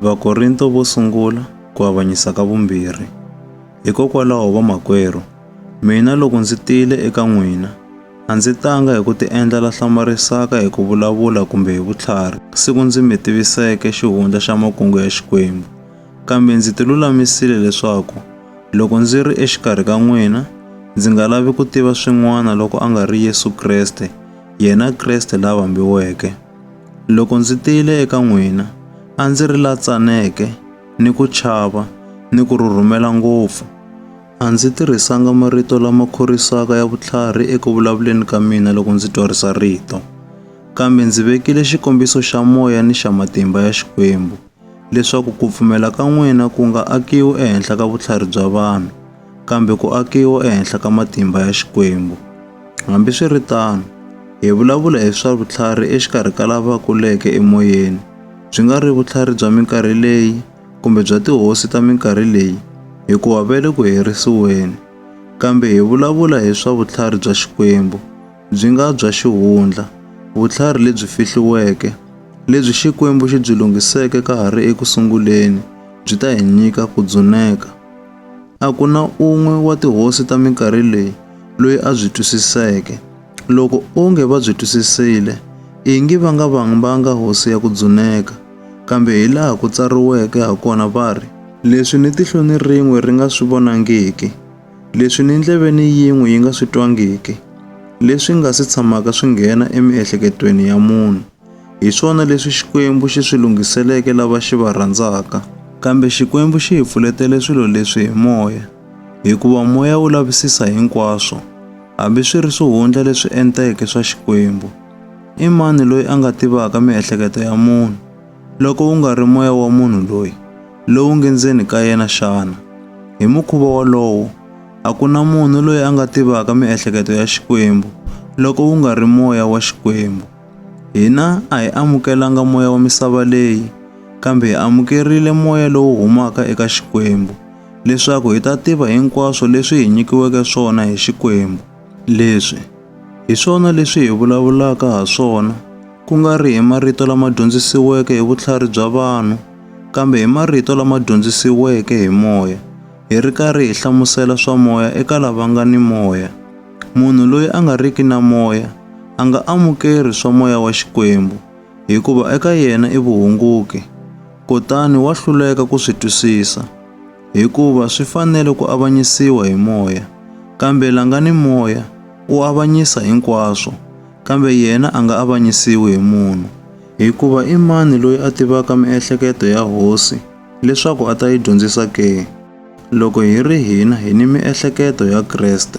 Vakorinto vo sungula ku avanyisa ka vumbirhi. Hikokwalaho vamakwerhu, mina loko ndzi tile eka n'wina, a ndzi tanga hi ku tiendla la hlamarisaka hi ku vulavula kumbe hi vutlhari, siku ndzi mi tiviseke xihundla xa makungu ya Xikwembu, kambe ndzi tilulamisile leswaku loko ndzi ri exikarhi ka n'wina, ndzi nga lavi ku tiva swin'wana loko a nga ri Yesu Kreste, yena Kreste la vambiweke. Loko ndzi tile eka n'wina, a ndzi ri la tsaneke, ni ku chava, ni ku rhurhumela ngopfu. A ndzi tirhisanga marito lama khorwisaka ya vutlhari eku vulavuleni ka mina loko ndzi twarisa rito, kambe ndzi vekile xikombiso xa moya ni xa matimba ya Xikwembu. leswaku ku pfumela ka n'wina ku nga akiwi ehenhla ka vutlhari bya vanhu, kambe ku akiwa ehenhla ka matimba ya Xikwembu. Hambiswiritano, hi vulavula hi swa vutlhari exikarhi ka lava kuleke emoyeni, byi nga ri vutlhari bya minkarhi leyi kumbe bya tihosi ta minkarhi leyi, hikuva va le ku herisiweni, kambe hi vulavula hi swa vutlhari bya Xikwembu. byi nga bya xihundla, vutlhari lebyi fihliweke, lebyi Xikwembu xi byi lunghiseke ka ha ri eku sunguleni, byi ta hi nyika ku dzuneka. A ku na un'we wa tihosi ta minkarhi leyi loyi a byi twisiseke. Loko onge va byi twisisile, ingi va nga vambanga hosi ya ku dzuneka. Kambe hi laha ku tsariweke ha kona va ri, Leswi ni tihlo ni rin'we ri nga swi vonangiki, Leswi ni ndleveni yin'we yi nga swi twangiki, leswi nga si tshamaka swi nghena emiehleketweni ya munhu, hi swona leswi Xikwembu xi swi lunghiseleke lava xi va rhandzaka. Kambe Xikwembu xi hi pfuletele swilo leswi hi moya, hikuva moya wu lavisisa hinkwaswo, hambi swi ri swihundla leswi enteke swa Xikwembu. I mani loyi a nga tivaka miehleketo ya munhu? Loko wu nga ri moya wa munhu loyi, lowu nge ndzeni ka yena xana? Hi mukhuva wolowo, a ku na munhu loyi a nga tivaka miehleketo ya Xikwembu loko wu nga ri moya wa Xikwembu. Hina a hi amukelanga moya wa misava leyi, kambe hi amukerile moya lowu humaka eka Xikwembu, leswaku hi ta tiva hinkwaswo leswi hi nyikiweke swona hi Xikwembu. Leswi hi swona leswi hi vulavulaka ha swona, ku nga ri hi marito lama dyondzisiweke hi vutlhari bya vanhu, kambe hi marito lama dyondzisiweke hi moya, hi ri karhi hi hlamusela swa moya eka lava nga ni moya. Munhu loyi a nga riki na moya a nga amukeri swa moya wa Xikwembu, hikuva eka yena i vuhunguki, kutani wa hluleka ku swi twisisa. hikuva swi fanele ku avanyisiwa hi moya, kambe la nga ni moya u avanyisa hinkwaswo, kambe yena a nga avanyisiwi hi munhu. Hikuva i mani loyi a tivaka miehleketo ya hosi leswaku a ta yi dyondzisa ke? Loko hi ri hina hi ni miehleketo ya Kreste.